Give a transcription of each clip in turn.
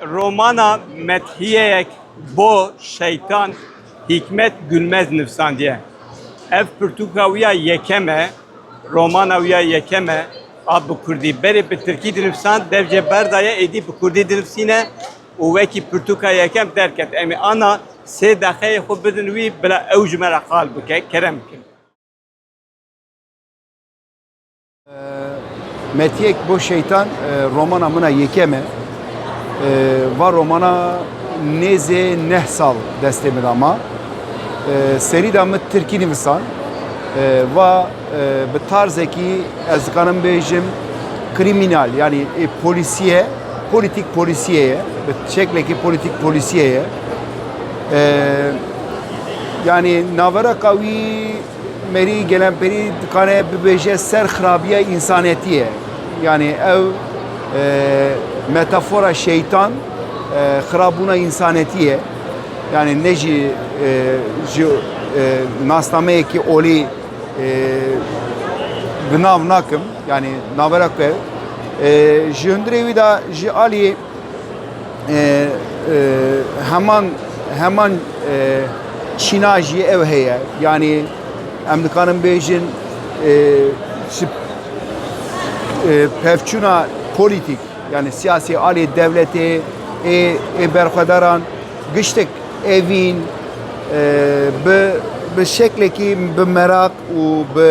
Romana methiyeyek bo şeytan Hikmet Gülmez nivsandiye. Ev pirtûka wî ya yekem e, romana wî ya yekem e a bi Kurdî. Berê bi Tirkî dinivsand, dev jê berdaye êdî bi Kurdî dinivsîne û wekî pirtûka yekem derket. Em ê ana sê deqeyê xwe bidin wî bila ew ji me re qal bike, kerem bikin. Metiyek bo şeytan e, romana mına yekeme. E, va romana nêzê neh sal destê min ama. E, Serî da min Tirkî nivisan. Va bi tarzekî ez dikarim bêjim kriminal yani e, polisiye, politik polisiyeye, bi şeklekî politik polisiyeye. Yani navera kawî Merî Gelenperî dikare bibêje ser xirabiya însanetiyê. Yanî ew metafora şeytan xirabûna însanetiyê. Yanî ne jî ji nasnameyekî olî bi nav nakim. Yanî navera ku ji hundirê wî de ji aliyê heman heman çîna jî ew heye yanî em dikarin bêjin pevçûna polîtîk yani siyasî alê dewletê ê ê berxwedaran giştek evîn bi bi şeklekî bi meraq û bi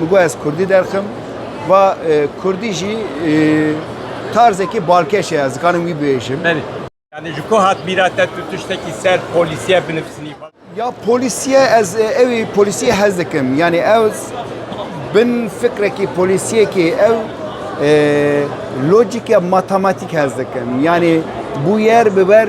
Min got ez kurdî derxim. Va kurdî jî tarzekî balkeş e ez dikarim wî bibêjim. Berî. Yani ji ku hat bîra te tu tiştekî ser polîsiye binivîsinî? Ya polîsiye ez ewî polîsiye hez dikim. Yani ew bin fikrekî polîsiyekî ew lojîke matematîk hez dikim. Yani bûyer biber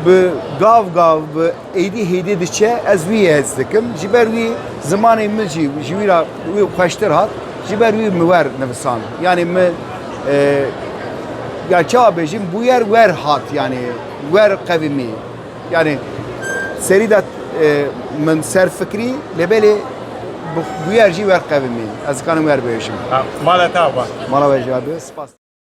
bi gav gav bi Êdî hêdî diçe ez wî hez dikim. Ji ber wî zimanê min jî ji wî ra wî xweştir hat. Ji ber wî min wer nivisand. Yanê min e, ya çawa bêjim bûyer wer hat yanê wer qevimî. Yanê serî de e, min ser fikrî lê belê bûyer jî wer qevimî. Ez dikanim wer bêjim. Mala te ava. Mala we jî abi. Spas.